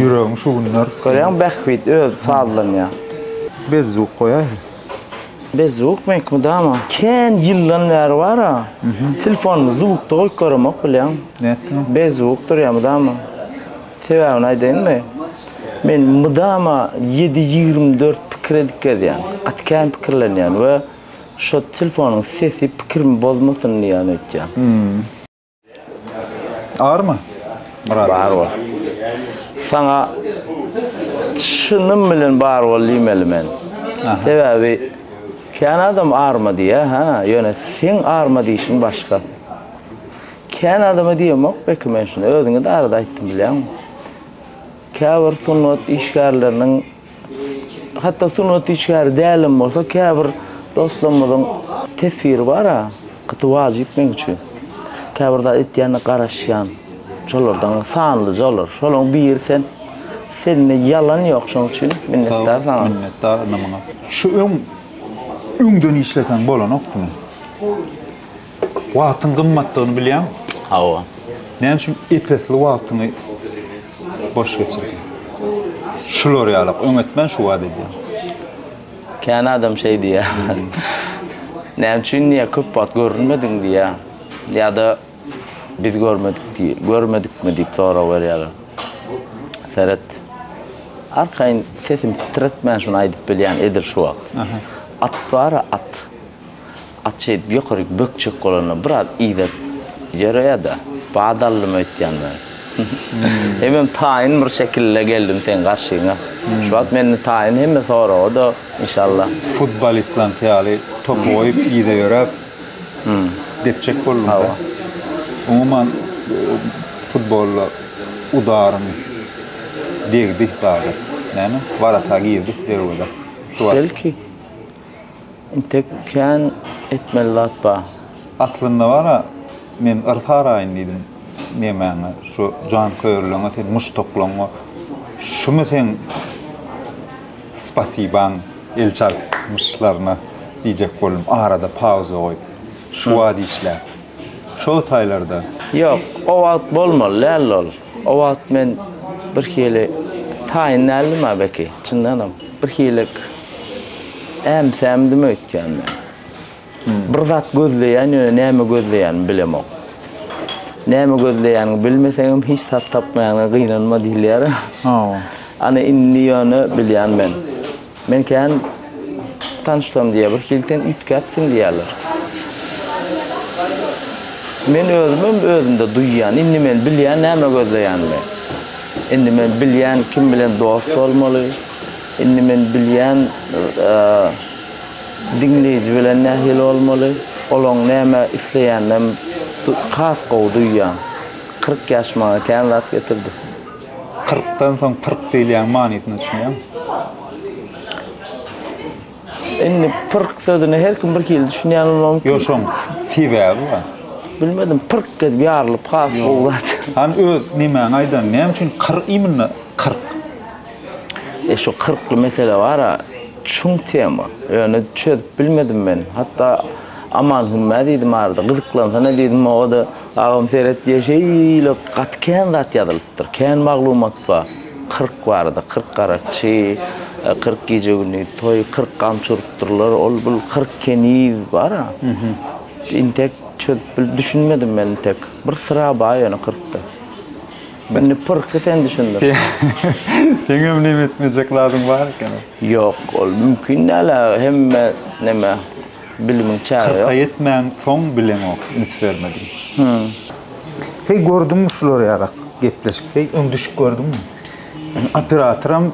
Ýüregiň şu günler. Görýäňmi Bähbit özi sazlanýar. Bezzuk goýaýsy. Bezzuk meňki mydama kän ýyldan bäri bar a telefonymda zukda goýup göremok bilýäňmi. Nätdiňmi? Bezzuk durýar mydama. Sebäbini aýdaýynmy? Men mydama ýedi ýigrimi dört pikir edip gezýän. Gaty kän pikirlenýän we şo telefonyň sesi pikirimi bozmasyn diýýän öýtýän. Army? Murat. Bar bol. Saňa çynym bilen bar bol diýmeli men. Sebäbi kän adam arma diýýär, ha, ýöne seň arma diýişiň başga. Kän adama diýemok belki men şuny, özüňe-de arada aýtdym bilýäňmi? Käbir sungat işgärleriniň Hatda sungat işgäri dälem bolsa käbir dostlarymyzyň teswiri bar-a, gaty wajyp meň üçin. Käbir zat etýänine garaşýan. Şolardan sanlyja olar. Şolaryň biri sen. Sende ýalan ýok şoň üçin minnetdar saňa. Minnetdar ine muňa. Şu öň öňden işleseň bolanokdymy? Wagtyň gymmatdygyny bilýäňmi? Hawa. Näme üçin ep-esli wagtyňy boş geçirdi. Şular ýalak, öňetmän şu wada edýän. Kän adam şeý diýýär. Näme üçin diýýär, köp wagt görünmediň diýýär. Ýa-da biz görmedik diý, görmedikmi diýip sorag berýärler. Seret. Arkaýyn sesimi titretmän şuny aýdyp bilýän edil şu wagt. At bar-a, at. At şeýdip ýokaryk bökjek bolanda biraz yza ýöreýä-de, bat aldym öýtýän men. Hemem taýyn bir şekilde geldim seň garşyňa. Şu wagt mende taýyn hemme soraga-da, inşallah. Futbolistleriňki ýaly topy goýup, yza ýöräp depjek boldum-da. Umuman, futbolda udarym degdi zada. Näme? Warata girdi derwezä. Şu wagt. Belki. Intek kän etmeli zat bar. Aslynda bar-a, men yr saraýyn diýdim nemäňe, şu janköýerligiňe, seniň muşdaklaryňa. Şumy seň spasibaň el çalypmyşlaryna diýjek boldum, arada pauza goýup. Şu wagt işläp. şo taýlarda. Ýok, o wagt bolmaly däldi ol. O wagt men birhili taýyn däldim-ä belki, çyndanam. Birhilik äm-sämdim öýtýän men. Bir zat gözleýän, ýöne näme gözleýänimi bilemok. Näme gözleýäniňi bilmeseňem hiç zat tapmaýanyňa gynanma diýilýär-ä. Ana indi ýöne bilýän men. Men kän tanyşsam diýýär, birhili sen üýtgäpsiň diýýärler. Men özümem özümde duýýan, indi men bilýän näme gözleýänimi. Indi men bilýän kim bilen dost bolmaly, indi men bilýän diňleýji bilen nähili bolmaly, olaň näme isleýäninem has gowy duýýan. Kyrk ýaş maňa kän zat getirdi. Kyrkdan soň pyrk diýilýän manysyna düşünýäň. Indi pyrk sözüne her kim bir hili düşünýän bolmagy mümkin. Ýok, şoň sebäbi bar. Bilmedim, pyrk edip ýarylyp has gowy zat. Hany öz nemäňi aýdan, näme üçin kyr imенно kyrk? E şu kyrkly mesele bar-a, çuň tema. Ýöne çözüp bilmedim men. Hatda Aman Hümä diýdim arada, gyzyklansa-ne diýdim, o-da Agam seret diýe şeýle gaty kän zat ýazylypdyr. Kän maglumat bar. Kyrk barada, kyrk garakçy, kyrk gije-gündiz toý, kyrk gamçy urupdyrlar, ol bul kyrk keniz bar-a. Intek çözüp bilip düşünmedim men intek. Bir syra bar ýöne kyrkda. Indi pyrky sen düşündir. Seňem neme etmejek zadyň bar ekeni. Ýok, ol mümkin däl-ä hemme neme. Bilimiň çägi ýok. Kyrka ýetmän soň bileňok, üns bermedim. Hümm. Heý gördüňmi şular ýarak gepleşik heý. Öň düşüp gördüňmi? Men operatoram,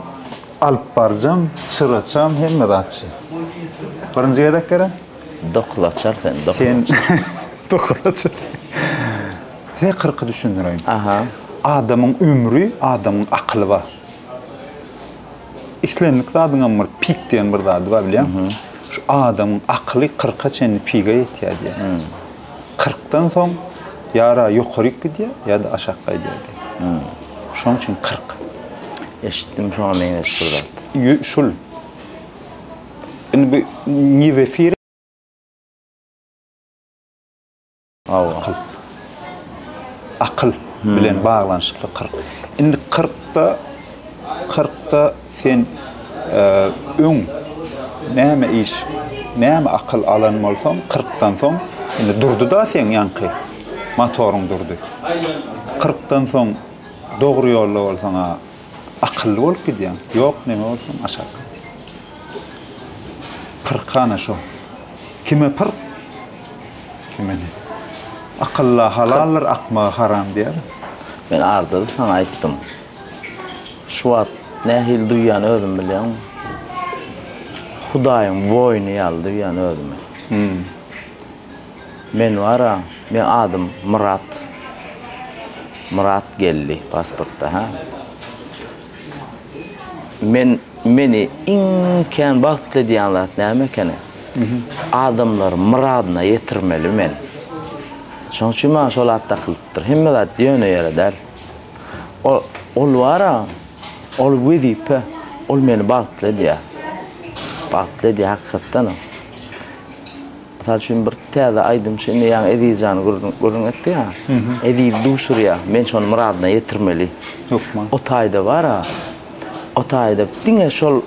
alypbarjam, çyraçam, hemme zatçy. Birinji gezek gerä? Dokuz açar sen, dokuz Sen açar. dokuz açar. Heý kyrky düşündireýin. Aha. Adamyň ömri, adamyň akyly bar. Islendik zadyňam bir pik diýen bir zady bar bilýäňmi? Şu adamyň akyly kyrka çenli piga ýetýär diýýär. Kyrkdan soň ýa-ra ýokaryk gidýär, ýa-da aşak gaýdýar diýýär. Şonuň üçin kyrk. Eşitdim şoňa meňzeş bir zat. Ýö, şul. Indi bu ne w efir. Hawa. Akyl. Akyl bilen baglanyşykly kyrk. Indi kyrkda, kyrkda sen öň näme iş, näme akyl alan bolsaň, kyrkdan soň, indi durdy-da seň ýaňky motoryň durdy. Kyrkdan soň dogry ýolda bolsaň-a, Akylly bolup gidýäň. Ýok neme bolsun aşak. Pyrkana şo. Kime pyrk? Kime ne? Akylla halaldyr akmaga haram diýer. Men Ardazy saňa aýtdym. Şu wagt nähili duýýan özüm bilýäňmi? Hudaýyň woýny ýaly duýýan özümi. Hum. Men bara meň adym Myrat Myrat geldi pasportda ha men meni iň kän bagtly edýän zat näme ekeni adamlary myradyna ýetirmeli men şoň üçin maňa şol at dakylypdyr hemme zat ýöne ýere däl ol ol bara ol wezipe ol meni bagtly edýär bagtly edýär hakykatdanam. Mysal üçin bir täze aýdymçy indi ýaňy Eziz jany gürrüň etdi ýa. Eziz duşurýa. Men şony myradyna ýetirmeli. Hökman. O taýda bar-a. O taýda diňe şol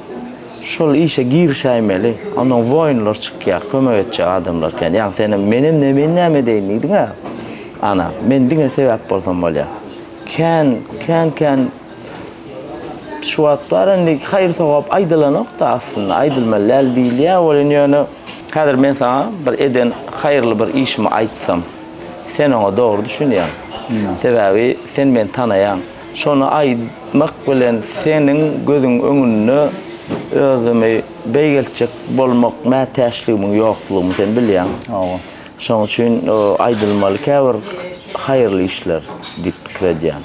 şol işe girişäýmeli. Ondan woýunlar çykýar, kömek etjek adamlar kän. Ýaňy senem menem ne men näme edeýin diýdiň-ä. Ana, men diňe sebäp bolsam bolýar. Kän, kän-kän. Şu wagt bar indi haýyr sogap aýdylanokda aslynda aýdylmaly däl diýilýär welin ýöne häzir men saňa bir eden haýyrly bir işimi aýtsam sen oňa dogry düşünýäň sebäbi sen meni tanaýaň şony aýtmak bilen seniň gözüň öňünde özümi beýgeltjek bolmak mätäçligimiň ýoklugyny sen bilýäň. Şoň üçin aýdylmaly käbir haýyrly işler diýip pikir edýän.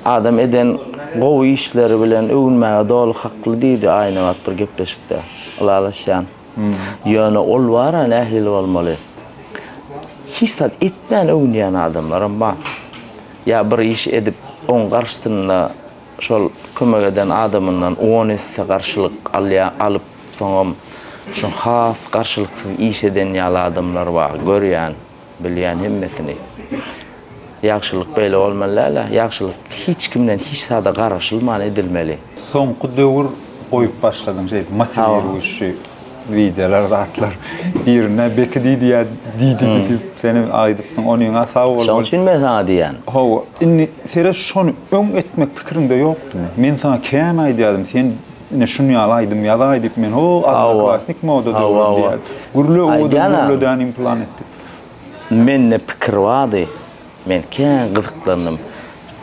Adam eden gowy işleri bilen öwünmäge doly hakly diýdi Aýnabat bir gepleşikde. Ylalaşýan. Ýöne ol bar-a nähili bolmaly. Hiç zat etmän öwünýän adamlaram bar. Ýa bir iş edip oň garşysynda şol kömek eden adamyndan on esse garşylyk alýan alyp Soňam şu has garşylyksyz iş eden ýaly adamlar bar, görýän, bilýän hemmesini. Ýagşylyk beýle bolmaly däl-ä, ýagşylyk hiç kimden hiç zada garaşylman edilmeli. Soňky döwür goýup başladyň şeýdip motiwiruýşi wideolar zatlar. Birine Beki diýdi ýa Didi diýdi, sen hem aýdypdyň. Onyňa sag bol. Şoň üçin men saňa diýýän. Hawa, indi seret şony öň etmek pikiriňde ýokdumy? Men saňa kän aýdýardym, sen Ine şun ýaly aýdym ýazaý diýip men ho odnoklassnik moda döwrüm diýýär. Gürle owadan gürle däni implan etdik. Mende pikir bardy. Men kän gyzyklandym.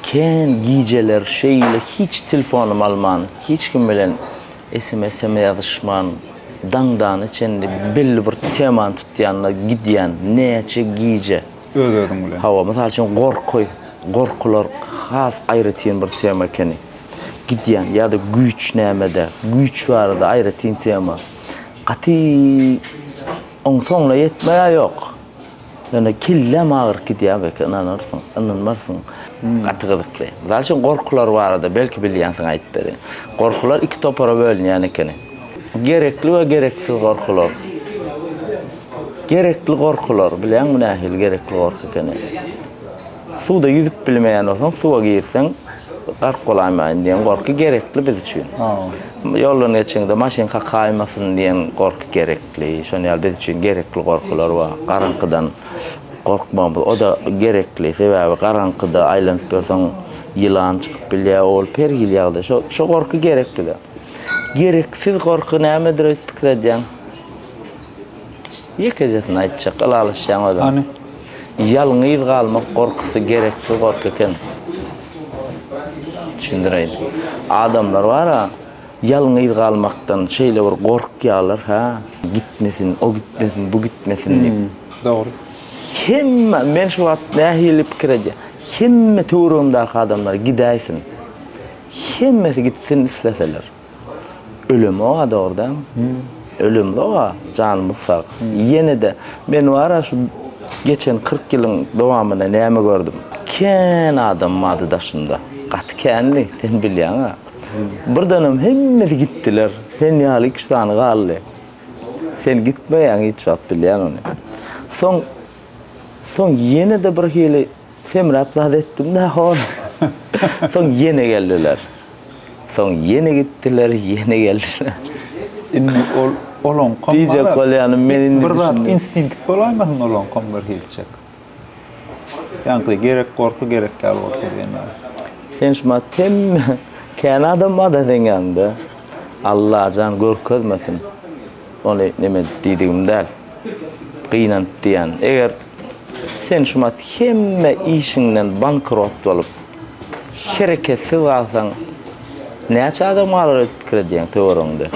Kän gijeler şeýle hiç telefonymy alman, hiç kim bilen sms-em ýazyşman daňdana çenli belli bir temany tutýan-da gidýän. Näçe gije. öz-özüň bilen. Hawa, mysal üçin gorky, gorkular has aýratyn bir tema ekeni. Gidýän ýa-da güýç nämede, güýç barada aýratyn tema. Gaty oňsoňuna ýetmeýär ýok. Ýöne kelläm agyryp gidýär belki ynanarsyň, ynanmarsyň. Gaty gyzykly. Mysal üçin gorkular barada belki bilýänsiň aýdyp berin. Gorkular iki topara bölünýän ekeni. Gerekli we gereksiz gorkular. Gerekli gorkular, bilýäň bu nähili gerekli gorky ekeni. Suwda ýüzüp bilmeýän bolsaň, suwa girseň gark bolaýmaýyn diýen gorky gerekli biz üçin. Ýoldan geçeňde maşyn kakaýmasyn diýen gorky gerekli. Şonuň ýaly biz üçin gerekli gorkular bar. Garaňkydan gorkmagymyz o-da gerekli. Sebäbi garaňkyda aýlanyp ýörseň ýylan çykyp bilýär, ol per hili ýagdaý. Şo şo gorky gerek bize. Gereksiz gorky nämedir öýdüp pikir edýäň? Ýekejesini aýtjak, ylalaşýaň özüň. Hany? Ýalňyz galmak gorkusy gereksiz gorky eken. Düşündireýin. Adamlar bar-a, ýalňyz galmakdan şeýle bir gorkýarlar, hä? Gitmesin, o gitmesin, bu gitmesin diýip. Dogry. Hemme, men şu wagt nähili pikir edýän, hemme töweregimdäki adamlar gidäýsin. Hemmesi gitsin isleseler. Ölüm oa dogrudan. Ölüm oa janymyz sag. Ýenede men wara şu geçen kyrk ýylyň dowamynda näme gördüm. Kän adam mady daşymda. Gaty kändi, sen bilýäňä. Birdenem hemmesi gitdiler. Sen ýaly iki-üç sany galdy. Sen gitmeýäň hiç wagt bilýän ony. Soň soň ýenede birhili semräp zat etdim-de hol. Soň ýene geldiler. Soň ýene gitdiler, ýene geldiler. Indi ol olaňkam diýjek bolýanym men indi bir zat instinkt bolaýmasyn olaňkam bir hilçek. Ýaňky gerek gorky gerek ýaly bolup gidýän ýaly. Sen şu maňa temme kän adam barda seň ýanyňda. Allajan görkezmesin. Ony neme diýdigim däl. Gynanyp diýýän. Eger sen şu maňa hemme işiňden bankrot bolup, Hereketsiz galsaň näçe adam galar edip pikir edýäň töweregiňde?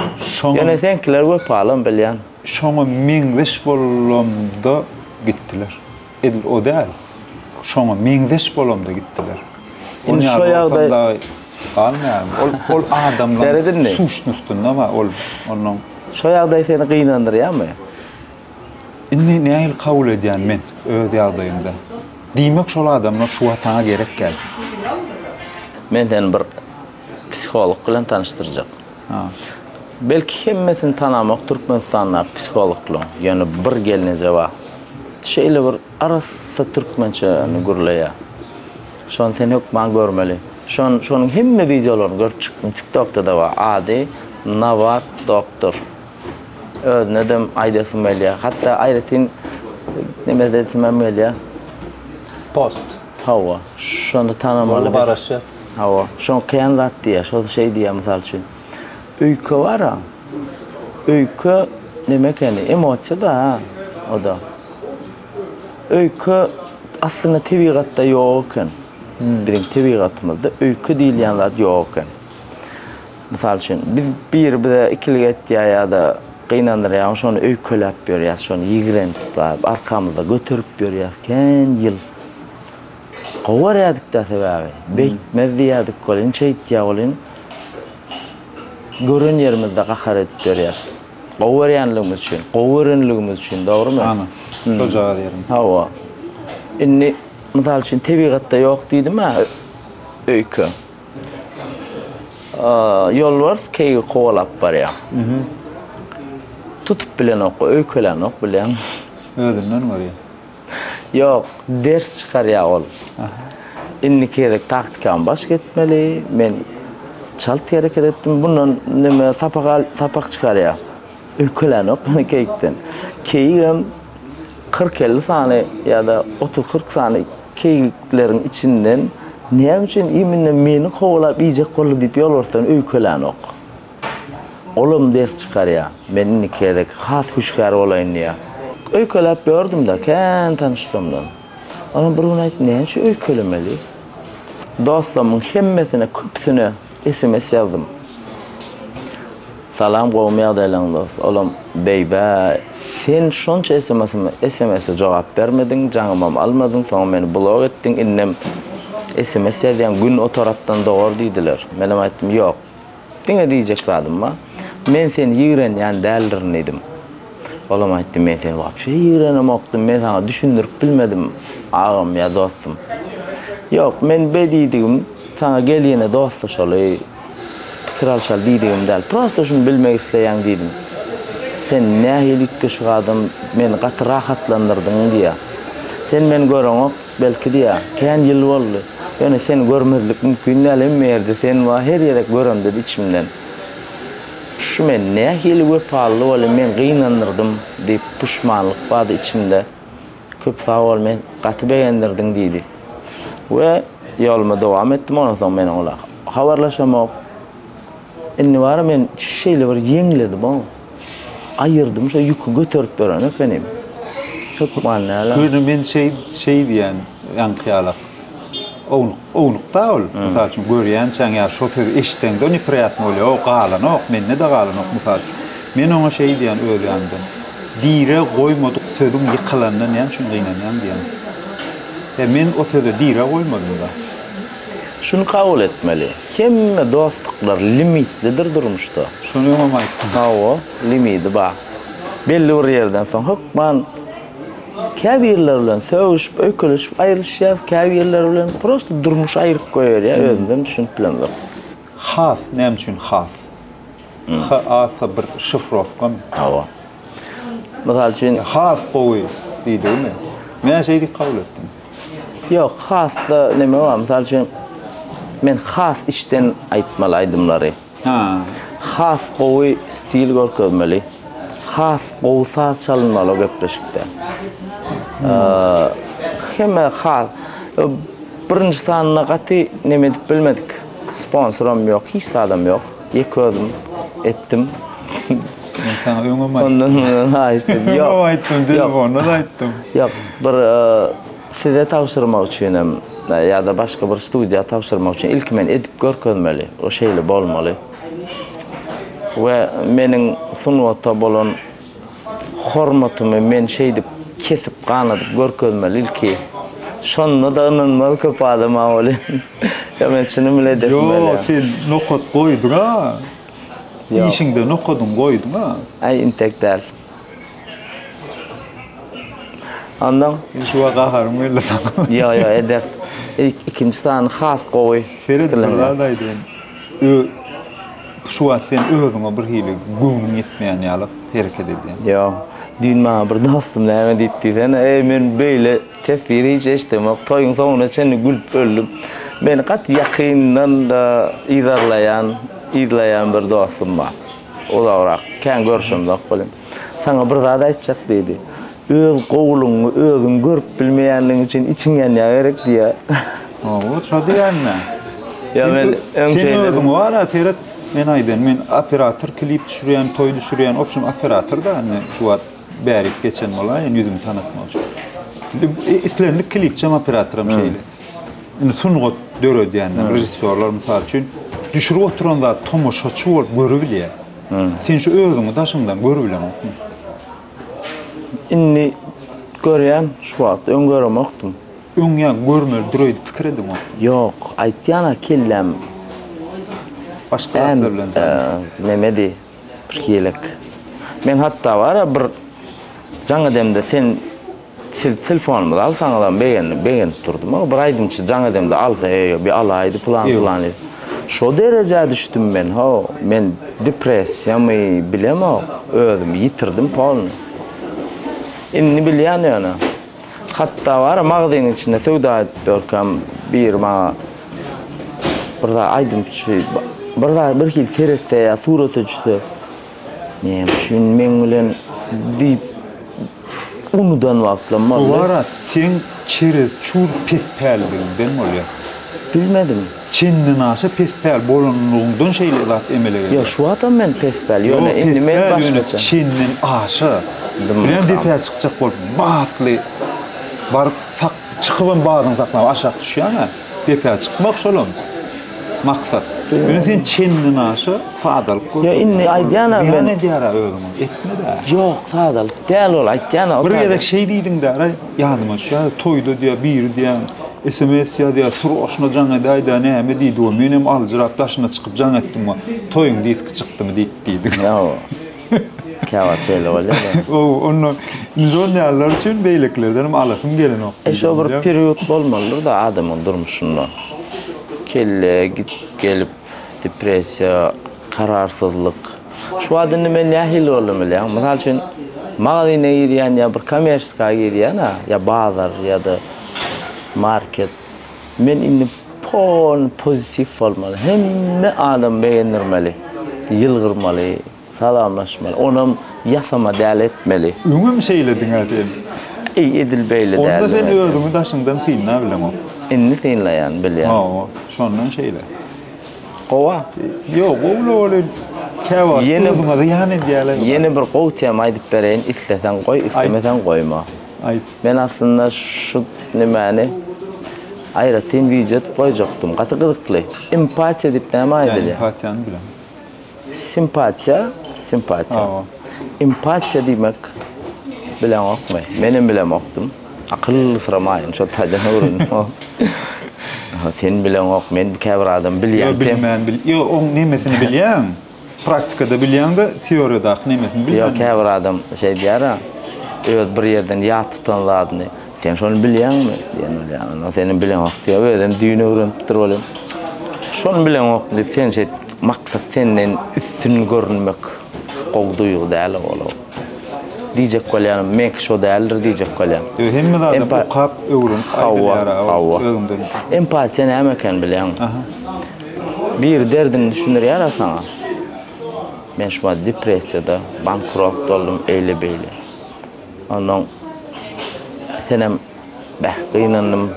Ýöne seňkiler wepalam bilýän. Şoňa meňzeş bolamda gitdiler. Edil o däl. Şoňa meňzeş bolamda gitdiler. Indi şo ýagdaý galmaýarmy? Ol ol adamlaryň suşnostynda bar ol onuň. Şo ýagdaý seni gynandyrýarmy? Indi nähili kabul edýän men öz ýagdaýymda? Diýmek şol adamlar şu wagt saňa gerek däl. Men seni bir psiholog bilen tanyşdyrjak. Belki hemmesini tanamok Türkmenistandaky psihologlaň, ýöne bir gelneje bar. Şeýle bir arassa türkmençäni gürleýär. Şony sen hökman görmeli. Şon şonuň hemme wideolaryny görüp çykdym, TikTokda-da bar. Ady Nawat doktor. özüne de aýdasym gelýär. Hatda aýratyn neme edesim hem gelýär. Post. Hawa, şony tanamaly. Ol garaşy. Hawa, şoň kän zat diýýär. Şol şeý diýýär, mysal üçin. Öýke bar-a. Öýke neme ekeni? Emosiýa-da, ha, o-da. Öýke aslynda tebigatda ýok eken. Biziň tebigatymyzda öýke diýilýän zat ýok eken. Mysal üçin, biz biri bize ikilik etýär ýa-da gynandyrýar, onda şony öýkeläp ýörýäs, şony ýigrenip-daýyp, arkamyzda göterip ýörýäs kän ýyl. Gowy görýärdik-dä sebäbi, beýtmez diýýärdik welin, şeýtýär welin, gören ýerimizde gahar edip ýörýäs. Gowy görýänligimiz üçin, gowy görenligimiz üçin, dogrumy? Hany, şojagaz ýerim. Hawa. Indi, mysal üçin, tebigatda ýok diýdim-ä öýke. Ýolbars keýigi kowalap barýar. Tutup bilenok, öýkelänok bilýäň. Özünden görýär. Ýok, ders çykarýar ol. Indiki gezek taktikama baş gitmeli. Men çalt hereket etdim. Bundan neme sapak al, sapak çykarýar. Ülkelänok men keýikden. Keýigem kyrk-elli sany ýa-da otuz-kyrk sany keýikleriň içinden näme üçin imine meni kowalap iýjek boldy diýip ýolbarsdan öýkelänok. Olam ders çykarýar. Men indi gezek has hüşgär bolaýyn diýýär. Öýkeläp ýördüm-de, kän tanyşdymdan. Onam bir gün aýtdy, Näme üçin öýkelemeli? Dostlarymyň hemmesine, köpüsine Sms ýazdym. Salam gowumy ýagdaýlaň dost. Olam beýbä sen şonça smsmi smse jogap bermediň jaňymam almadyň soňam meni blok etdiň indem sms ýazýaň gün o tarapdan dogar diýdiler. Menem aýtdym ýok. Diňe diýjek zadym bar. Men seni ýigrenýän däldirin diýdim. Olam aýtdy, Men seni wapşe ýigrenemokdym, men saňa düşündirip bilmedim, agam ýa dostum. Ýok, men be diýdigim, saňa gelýine dostlaşaly, pikir alşaly diýdigim däl. Prosta şuny bilmek isleýän diýdim. Sen nähili üýtgeşik adam, meni gaty rahatlandyrdyň diýýä. Sen meni göreňok, belki diýýä, kän ýyl boldy. Ýöne seni görmezlik mümkin däl, hemme ýerde sen bar, her ýerek göremde-de içimden. Şu men nähili wepalyly boly men gynandyrdym diýip puşmanlyk bady içimde köp sag bol men gaty begendirdiň diýdi we ýoluma dowam etdim ondan soň meniň ola habarlaşamok indi bara men şeýle bir ýeňledim oň aýyrdym şo ýüki göterip beren ekenim hökman näler. Göni men şeý şeý diýän ýaňky ýalak. Ownuk, ownuk-da ol. Mysal üçin, görýänçäň ýa şo sözi eşitseň-de nepriýatny bolýar. O galanok, mende-de galanok, mysal üçin. Men oňa şeý diýýän öz ýanymdan, Direg goýmadyk sözüň ýykylanyna näme üçin gynanýaň diýýän. He, men o söze direg goýmadym-da. Şuny kabul etmeli, hemme dostluklar limitlidir durmuşda. Şony öňem aýtdym. Hawa, limidi bar. Belli bir ýerden soň hökman. Käbirleri bilen sögüşip, öýkelişip aýrylyşýas, käbirleri bilen prosta durmuş aýryp goýberýär, özümizem düşünip bilemzok. Has näme üçin has? HAS bir şifrowkamy? Hawa. Mysal üçin. Has gowy diýdigimi? Men şeýdip kabul etdim. Ýok, hasda neme bar? Mysal üçin, men has içden aýtmaly aýdymlary. Has gowy stil görkezmeli, has gowy saz çalynmaly o gepleşikde. Hemme has birinji sanyna gaty neme edip bilmedik. Sponsoram ýok, hiç zadam ýok. Ýeke özüm etdim. Men saňa öňem aýtdym. Ondan mundan haýyş edip ýok. Öňem aýtdym, telefonda-da aýtdym. Ýok, bir Size tabşyrmak üçin hem ýa-da başga bir studiýa tabşyrmak üçin ilki men edip görkezmeli, o şeýle bolmaly. We meniň sungata bolan hormatymy men şeýdip kesip ganadyp görkezmeli ilki. Şonda-da ynanmaz köp adam maňa welin. Ýa men çynym bilen edesim gelýär. Ýok, sen nokat goýduň-a. Işiňde nokadyňy goýduň-a. Äý, intek däl. Ondan Düşüwa gaharym geldi saňa. Ýo ýo ederis. Ilk ikinji sany has gowy. Seret bir zat aýdaýyn. Ö Şu wagt sen özüňe bir hili göwnüň ýetmeýän ýaly hereket edýäň. Ýo. Düýn maňa bir dostum näme diýip diýsene, eý men beýle teswiri hiç eşdemok, toýuň soňuna çenli gülüp öldüm. Meni gaty ýakyndan yzarlaýan, yzlaýan bir dostum bar. Uzagrak, kän görşemzok welin. Saňa bir zat aýtjak, diýdi. Öz gowulygyňy özüň görüp bilmeýänligiň üçin içiň ýanýa gerek, diýýär. Hawa, şo diýýän-ä. Ýa men öň şeýle. Sen özüň bar-a, seret, men aýdan, men operator, klip düşürýän, toý düşürýän, obşem operator-da, indi şu wagt bärik geçen bolaýyn ýüzümi tanatmak üçin. Islendik klipçem operatoram şeýle. Indi sungat döredýänler, režissýorlar mysal üçin düşürip oturan zat tomaşaçy bolup görübilýär. Sen şu özüňi daşyňdan görübileňokmy? Indi görýän şu wagt, öň göremokdym. Öň ýa-da görmelidir öýdüp pikir edeňokmy? Ýok, aýtýan-a kelläm. Başga zatlar bilen zannet. Nämedi, birki elek. Men hatda bar-a bir jaň edemde sen. Siz telefonymyzy alsaňyzam begenip begenip durdum aga bir aýdymçy jaň edemde alsa eý bir alaýdy pylan pylan diýip. Şo derejä düşdüm men how men depressiýamy bilemok özümi ýitirdim polny. Indi bilýän ýöne. Hatda bara magzynyň içinde söwda edip ýörkäm biri maňa bir zat aýdymçy bir zat birhili seretse ýa surata düşse. Näme üçin meň bilen diýip unudan wagtlam boldy. Gowara seň çerez çul pes pälligiňden bolýa. Bilmedim. Çendenaşa pes päl bolanlygyňdan şeýle zat emele gelýär. Ýok şu wagtam men pes päl ýöne indi men başgaça. Çenden aşa bilen depä çykjak bolup batly baryp sak çykybam badyňy saklap aşak düşýäňä. Depä çykmak şolam maksat. Ýöne sen çendiň aşa sadalyk gör. Ýa indi aýdýan-a men. Zyýan edýär-ä özüňe. Etme-dä. Ýok, sadalyk däl ol aýtýan-a. Bir gezek şeý diýdiň-dä-re, ýadyma düşýär, toýda diýýär, biri diýýär, sms ýazýar, Suraşyna jaň edäý-dä, näme diýdi we menem aljyrap daşyna çykyp jaň etdim we Toýuň diski çykdymy diýip diýdiň. Ýa. Käwagt şeýle bolýar. Gowy, onda indi şol ýalylar üçin beýlekilerden hem alasym gelenok. E şo bir period bolmalydyr-da adamyň durmuşynda. Kelle gidip gelip, depressiýa, kararsyzlyk. Şu wagt indi men nähili boldum bilýäňmi? Mysal üçin, magazyna girýän ýa bir kommersiýa girýän-ä, ýa bazar ýa-da market. Men indi pol pozitiw bolmaly. Hemme adam begendirmeli. Ýylgyrmaly, salamlaşmaly. Onam ýasama däl etmeli. Öňem şeýlediňä sen. Eý edil beýle däldim. Onda sen özüňi daşyňdan synla bileňok. Indi synlaýan bilýän. Hawa, şondan şeýle. Gowa. Ýok, gowy bolýa. Kä wagt özüňe zyýan edýäler. Ýene bir gowy tema aýdyp bereýin, isleseň goý, islemeseň goýma. Men aslynda şu nemäni aýratyn wideo edip goýjakdym. Gaty gyzykly. Empatiýa diýip näme aýdylýar? Empatiýany bilemok. Simpatiýa, simpatiýa. Hawa. Empatiýa diýmek bileňokmy? Men hem bilemokdym. Akyl syramaýyn, şol taýdan öwrendim. Sen bileňok, men käbir adam bilýän. Ýok, bilmän bil. Ýok, oň nemesini bilýän? Praktikada bilýäňdä teoriýadaky nemesini bilýän. Ýok käbir adam şeý diýýärä öz bir ýerden ýat tutan zadyny sen şony bilýäňmi diýen bolýar onda seniň bileňok diýýär özem düýn öwrenipdir bolýar şony bileňok diýip sen şeýt maksat senden üstün görünmek gowy duýgy däl ogul o diýjek bolýarym meňki şo däldir diýjek bolýar ýög hemme zady okap öwrenip aýdylýara hawa hawa empatiýa näme eken bilýäňmi Biri derdiňi düşündirýärä saňa? Men şumat depressiýada, bankrot boldum, eýle-beýle. Onnoň senem beh, gynandym,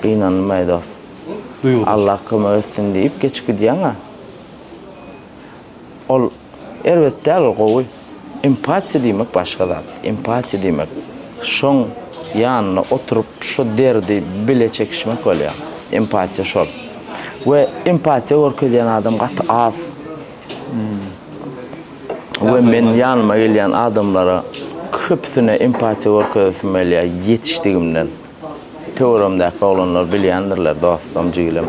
gynandym-aý dost. Duýgudaş. Allah kömek etsin diýip geçip gidýäň-ä. Ol. Erbet däl ol gowy. Empatiýa diýmek başga zat. Empatiýa diýmek şoň ýanynda oturyp şo derdi bile çekişmek bolýar. Empatiýa şol. We empatiýa görkezýän adam gaty az. We men ýanyma gelýän adamlara köpüsine empatiýa görkezesim gelýär ýetişdigimden. Töweregimdäki oglanlar bilýändirler, dostum, jigilem.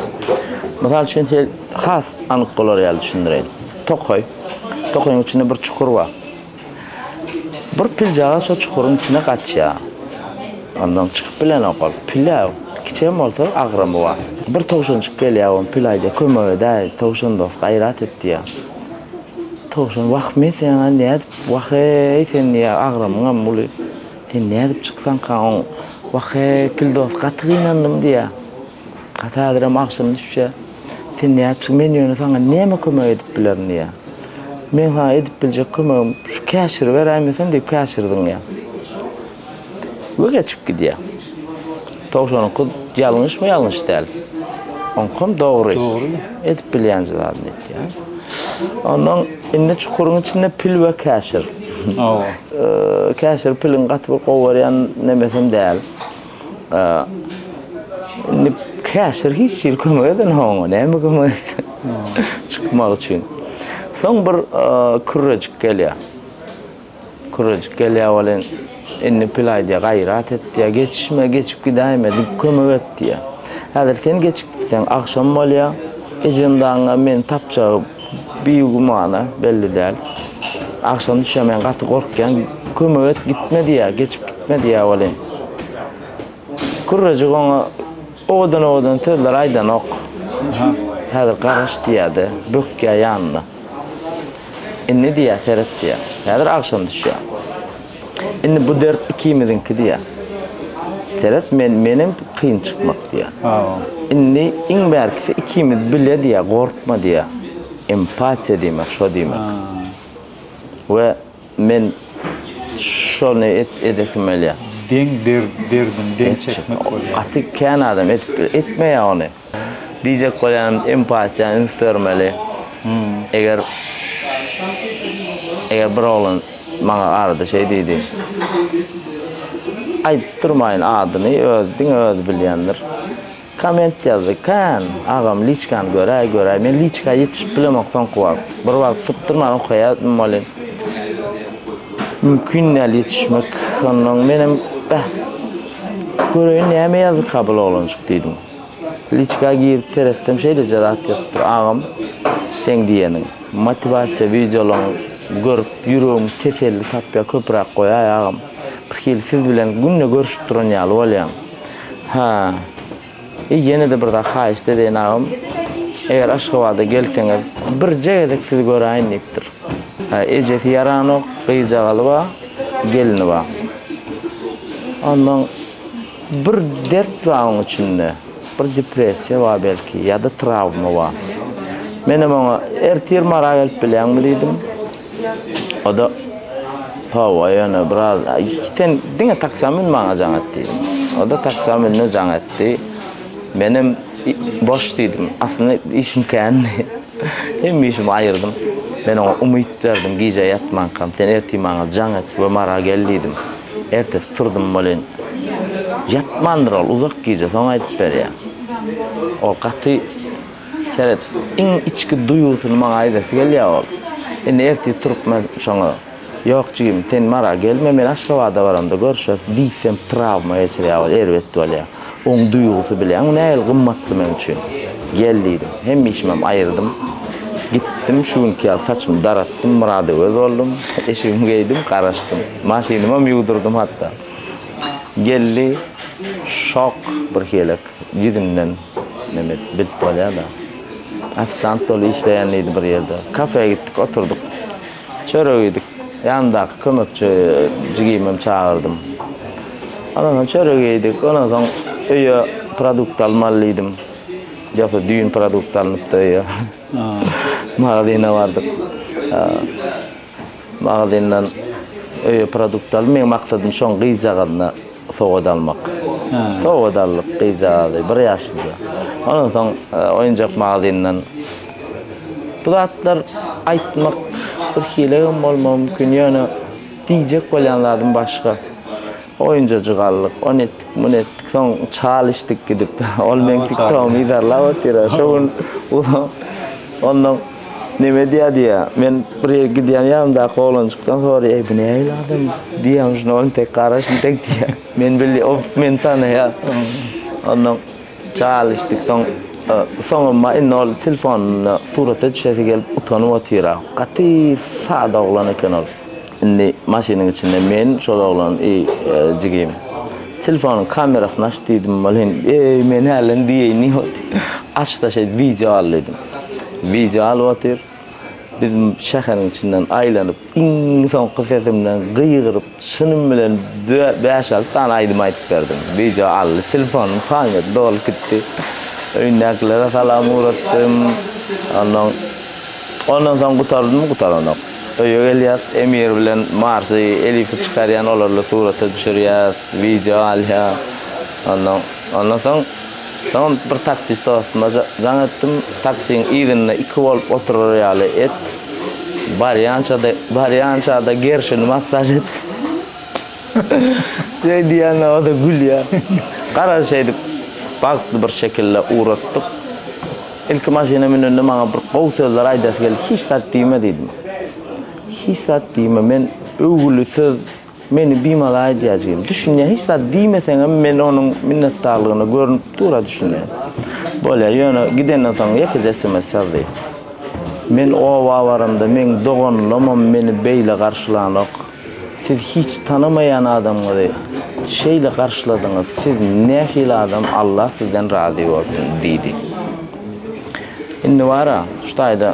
Mysal üçin, sel has anyk bolar ýaly düşündireýin. Tokaý. Tokaýyň içinde bir çukur bar. Bir pil jagaz şo çukuryň içine gaçýar. Ondan çykyp bilenok ol. Pil-ä, kiçem bolsa agramy bar. Bir towşanjyk gelýär, ony pil aýdýar, Kömek edäý, towşan dost, gaýrat et diýýär. Towşan, Wah, men seňä nädip, wah-eý, sen diýýär, agramyňam uly. Sen nädip çyksaňka oň? Wah-he, Kildos, gaty gynandym, diýýä. Gaty häzirem agşam düşýä. Sen nädip çyk, men ýöne saňa näme kömek edip bilerin, diýýä. Meň saňa edip biljek kömegim, şu käşiri beräýmeseň, diýip, käşiri zyňýa we geçip gidýä. Towşanyňky ýalňyşmy ýalňyş däl. Oňkam dogry. Dogry. Edip bilýän zadyny etýär. Ondan indi çukuryň içinde pil we käşir. Hawa. Käşir piliň gaty bir gowy berýän nemesem däl. Indi käşir hiç hili kömek eden oňa, näme kömek etsin. Çykmak üçin. Soň bir kürrejik gelýär. Kürejik gelýär welin, Indi pil aýdýar, gaýrat et diýýär, geçişme, geçip gidäýme, diýip kömek et diýýär. Häzir sen geçip gitseň, agşam bolýar, ejem dagyňa meni tapjagy bigümana, belli däl. Agşam düşýär, men gaty gorkýan, kömek et, gitme diýýär, geçip gitme diýýär welin, Kürejik oňa Owadan owadan sözler aýdanok. Häzir garaş diýýärdi, bökýär ýanynda. Indi diýýär seret diýýär. Häzir agşam düşýär. Indi bu dert ikimiziňki diýýär. Seret men menem kyn çykmak diýýär. Indi iň bärkisi ikimiz bile diýýär gorkma diýýär. Empatiýa diýmek şo diýmek. We. Men şony edesim gelýär. Deň derdini deň çekmek bolýar. Gaty kän adam etmeýär ony. Diýjek bolýanym empatiýa üns bermeli. Eger eger bir oglan maňa garady şeý diýdi. Aýdyp durmaýyn adyny öz diňe özi bilýändir. Komment ýazdy kän agam liçkany göräý göräý men liçka ýetişip bilemok soňky wagt bir wagt sypdyrman okaýadym welin mümkin däl ýetişmek onnoň menem bäh göreýin näme ýazdyka bul oglanjyk diýdim liçka girip seretsem şeýleje zat ýazypdyr agam seň diýeniň motiwasiýa wideolaň görüp ýüregim teselli tapýa köpüräk goýaý agam birhili siz bilen günde görüşip duran ýaly bolýan Hä. I ýene-de bir zat haýyşt edeýin agam. Eger Aşgabada gelseňiz, birje gezek sizi göräýin diýipdir. Hä, ejesi ýaranok, gyzjagazy bar, gelni bar. Ondan bir dert bar oň içinde. Bir depressiýa bar belki ýa-da trawma bar. Menem oňa, Ertir Mara gelip bilýäňmi diýdim. O-da, Hawa, ýöne biraz, sen diňe taksam mün, maňa jaň et diýdim. O-da taksa mündi, jaň etdi. Menem boş diýdim. Aslynda işim kändi. Hemme işimi aýyrdym. Men oňa umyt berdim, gije ýatmankam, sen ertir maňa jaň et we Mara gel diýdim. Ertesi turdum welin, ýatmandyr ol, uzak gije, soň aýdyp berýän. Ol gaty. Seret, iň içki duýgusyny maňa aýdasy gelýär ol. Indi ertir turup men şoňa, Ýok, jigim, sen Mara gelme, men Aşgabada baramda görşeris diýsem, trawma geçirýär ol, erbet bolýar. Oň duýgusy bileýäňmi nähili gymmatly men üçin? Gel diýdim. Hemmeşimem aýyrdym. Gitdim, şu günki ýaly saçymy daratdym, Myradöwez boldum. Eşigimi geýdim, garaşdym. Maşynymam ýuwdurdym hatda. Geldi, şok birhilek ýüzünden. Men et bilip bolýada. Ofisiant doly işleýän diýdi bir ýerde. Kafe gitdik, oturdyk. Çörek iýdik. Ýanyndaky kömekçi jigimem çagyrdym. Ondan soň çörek iýdik. Ondan soň öýe produkt almaly diýdim. Ýogsa düýn produkt alnypdy öýe. Magazyna bardyk. Magazyndan öýe produkt alyp, meň maksadym şoň gyzjagazyna sowgat almak. Sowgat aldyk gyzjagazy, bir ýaşlyja. Ondan soň oýunjak magazyndan. Bu zatlar aýtmak birhili hem bolmagy mümkin, ýöne diýjek bolýan zadym başga. Oýunjajyk aldyk, ony etdik, muny etdik, soň çal içdik gidip. Ol meň tiktogymy yzarlap otyr-a, şo gün ondan neme edýär diýýär. Men bir ýere gidýän ýanymdaky oglanjykdan soraýar, Eý, bu nähili adam? Diýýän, şunda ol entek garaş, entek diýýär. Men bilýän, ol meni tanaýar. Ondan çal içdik, soň soňam bar, indi ol telefonynda surata düşesi gelip utanyp otyr-a. Gaty sada oglan eken ol. Indi maşynyň içinde men, şol oglan i jigim. Telefonyň kamerasyny aç diýdim, welin, eý, men hälem diýeýin diýip otyr. Aç-da şeýt wideo al diýdim. Wideo alyp otyr. Biz şäheriň içinden aýlanyp, iň soňky sesimden gygyryp, şunuň bilen bäş-alty sany aýdym aýdyp berdim. Wideo aldy, telefonyň pagnet dolup gitdi. Öýündäkilere salam ugratdym. Onnoň Ondan soň gutardymy, gutaranok. Öýe gelýäs, Emir bilen Marsy, Elifi çykarýan, olarly surata düşürýäs, wideo alýas. Ondan, ondan soň, soňam bir taksist dostuma jaň etdim, taksiň yzynda iki bolup oturar ýaly et, barýança-da, barýança-da gerşini massaž et. Şeý diýende, o-da gülýär. Garaz, şeýdip, bagtly bir şekilde ugratdyk. Ilki maşyna münende maňa bir gowy sözler aýdasy geldi. Hiç zat diýme diýdim. Hiç zat diýme, men öwgüli söz meni bimala aýdýar jigim. Düşünýän hiç zat diýmeseňem men onuň minnetdarlygyna görünip dur-a düşünýän. Bolýar, ýöne gidenden soň ýekeje sms ýazdy. Men oba baramda meň doganlamam meni beýle garşylanok. Siz hiç tanamaýan adamňyzy şeýle garşyladyňyz, siz nähili adam Allah sizden razy bolsun diýdi. Indi bara şu taýda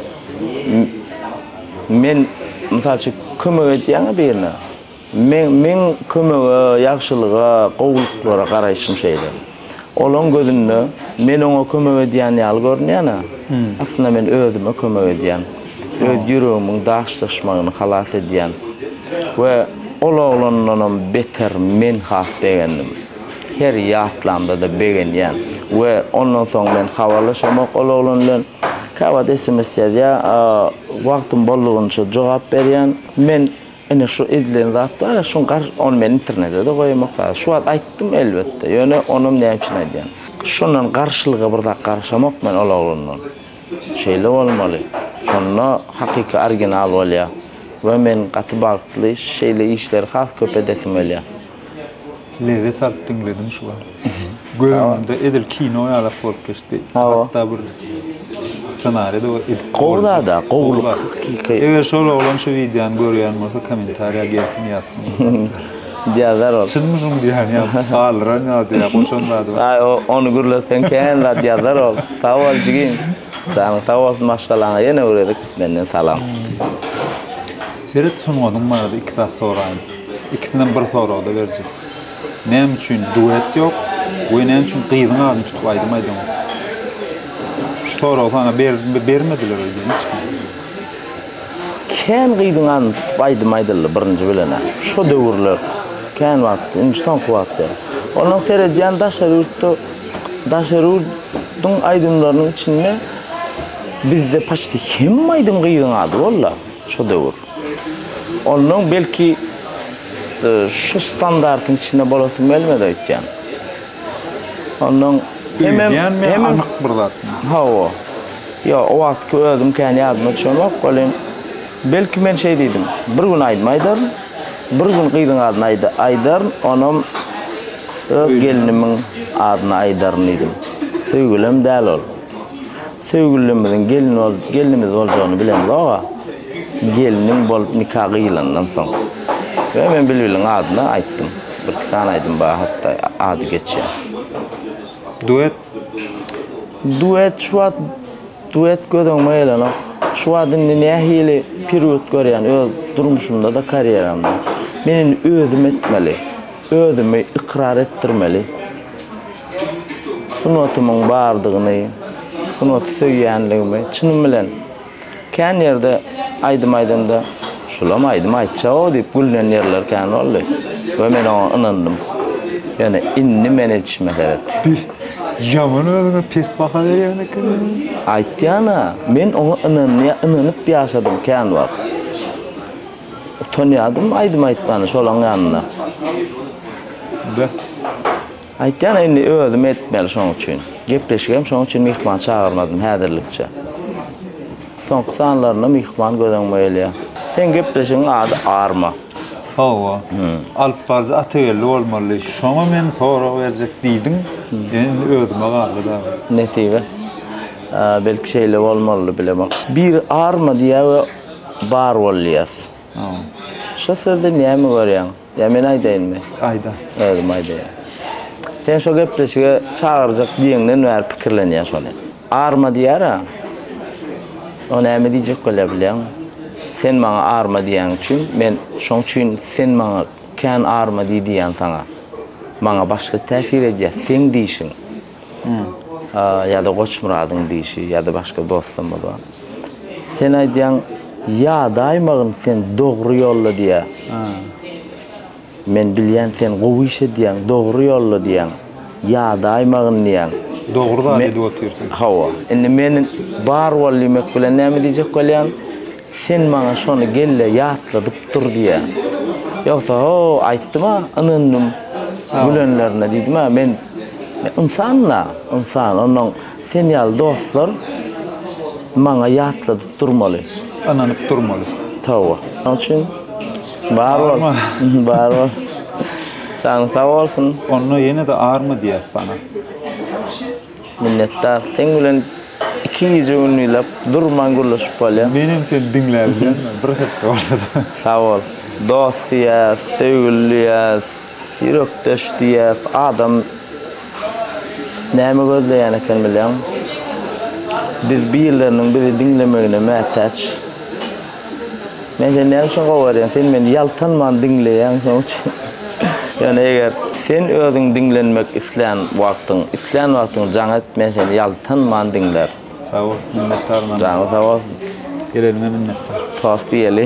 men mysal üçin kömek edýäňä birine, meň kömege, ýagşylyga, gowulyklara garaýşym şeýle. Olaň gözünde men oňa kömek edýän ýaly görünýän-ä. Aslynda men özüme kömek edýän. Öz ýüregimiň daşlaşmagyny halas edýän. We ol oglandanam beter men has begendim. Her ýatlamda-da begenýän. We ondan soň men habarlaşamok ol oglan bilen. Käwagt sms ýazýar, wagtym boldugyňça jogap berýän. Men. Ine şu edilen zat bar-a, şuň gar ony men internede-de goýamok zada. Şu wagt aýtdym, elbetde. Ýöne onam näme üçin aýdýan? Şundan garşylyga bir zat garaşamok men ol oglandan. Şeýle bolmaly. Şonda hakyky original bolýar. We men gaty bagtly, şeýle işleri has köp edesim gelýär. Lezzet alyp diňledim şu wagt. Gözümde edil kino ýalak bolup geçdi. Hatda bir ssenariýa-da edip Gowy zada, gowulyk. Eger şol oglan şu wideony görýän bolsa kommentariýa gelsin ýazsyn. Ýazar ol. Çynmy şuň diýýän ýa galdyran ýalydy ýa goşan zady bar. Aý ony gürletseň kän zat ýazar ol. Sag bol jigim. Janyň sag bolsun maşgalaňa ýene öwredik menden salam. Seret sungatyň barada iki zat soraýyn. Ikisinden bir soragda berjek. Näme üçin duet ýok we näme üçin gyzyň adyny tutup aýdym aýdýaň? Şu soragy saňa berdimbe bermediler öýde hiç kim. Kän gyzyň adyny tutup aýdym aýdyldy birinji bilenä. Şo döwürler kän wagt, indi soňky wagt ýa. Ondan seredýän daşary ýurtda daşary ýurduň aýdymlarynyň içinde bizde paçti hemme aýdym gyzyň ady walla. Şu döwür. Ondan belki e, şu standartyň içinde bolasym gelmedi aýtýan. Ondan hemem hemem anyk bir zat. Hawa. Yo, o wagtky özüm kän ýadyma düşenok, welin belki men şeý diýdim. Bir gün aýdym aýdaryn, bir gün gyzyň adyny aýda- aýdaryn, onam öz gelnimiň adyny aýdaryn diýdim. Söýgülem däl ol. Söýgülimizin gelnimiz boljagyny bilemzog-a. Gelnim bolup nika gyýylandan soň. Ýöne men Bilbiliň adyny aýtdym. Birki sany aýdym bar hat-da ady geçýän. Duet? Duet şu wagt duet göz öňüme gelenok. Şu wagt indi nähili perýod görýän öz durmuşymda-da karýeramda. Men indi özüm etmeli. Özümi ykrar etdirmeli. Sungatymyň bardygyny, sungaty söýýänligimi çynym bilen. Kän ýerde aýdym aýdamda, Şulam aýdym aýtjak-ow diýip gülnen ýerler kän boldy we men oňa ynandym. Ýöne indi men edişime seret. Bih, ýaman özüňe pes baha berýän ekeniň. Aýtýan-a, men oňa ynanyp ýaşadym kän wagt. Utanýadym aýdym aýtmana şolaň ýanynda. Da. Aýtýan indi özüm etmeli şoň üçin. Gepleşigem şoň üçin myhman çagyrmadym häzirlikçe. Soňky sanlarynda myhman göz öňüme gelýär. Seň gepleşigiň ady Arma. Hawa. Alyp baryjy Atageldi bolmaly. Şoňa men sorag berjek diýdim. Indi özüme galdy dagy. Nesibe. Belki şeýle bolmalydy bilemok. Biri Arma diýýär we Bar bol diýýäs. Şo sözde näme görýäň? Ýa men aýdaýynmy? Aýda. Özüm aýdaýyn. Sen şo gepleşige çagyrjak diýeňden bäri pikirlenýän şony. Arma diýýär-ä. O näme diýjek bolýar bilýäňmi? Sen maňa arma diýýäň üçin, men şoň üçin sen maňa kän arma diý diýýän saňa. Maňa başga täsir edýär seň diýşiň. ýa-da Goçmyradyň diýşi, ýa-da başga dostlarymyz bar. Sen aýdýaň, ýadaýmagyn sen dogry ýolda diýýär. Men bilýän sen gowy iş edýäň, dogry ýolda diýýäň, ýadaýmagyn diýýäň. Dogry zat edip otyrsyň. Hawa. Indi men bar bol diýmek bilen näme diýjek bolýan? Sen maňa şony gelle ýatladyp dur diýýä. Ýogsa ho, aýtdym-a, ynandym gülenlerine diýdim-ä. Men ynsan-la, ynsan. Onnoň sen ýaly dostlar maňa ýatladyp durmaly. Ynanyp durmaly. Towa. Şonuň üçin bar bol. Bar bol. Janyň sag bolsun. Onda ýene-de arma diýýäs sana. Minnetdar. Seň bilen iki gije gündizlap durman gürleşip bolýar. Menem seni diňläp ýörün bir hepde bolsa-da. Sag bol. Dost diýýäs, söýgüli diýýäs, ýürekdeş diýýäs. Adam näme gözleýän eken bilýäňmi? Biz birleriniň bizi diňlemegine mätäç. Men seni näme üçin gowarýan? Sen meni ýaltanman diňleýäň, şonuň üçin. Ýöne eger sen özüň diňlenmek islän wagtyň, islän wagtyň jaň et, men seni ýaltanman diňlärin. Sag bol, minnetdar. Janyň sag bolsun. Geleniňe minnetdar. Tost iýeli.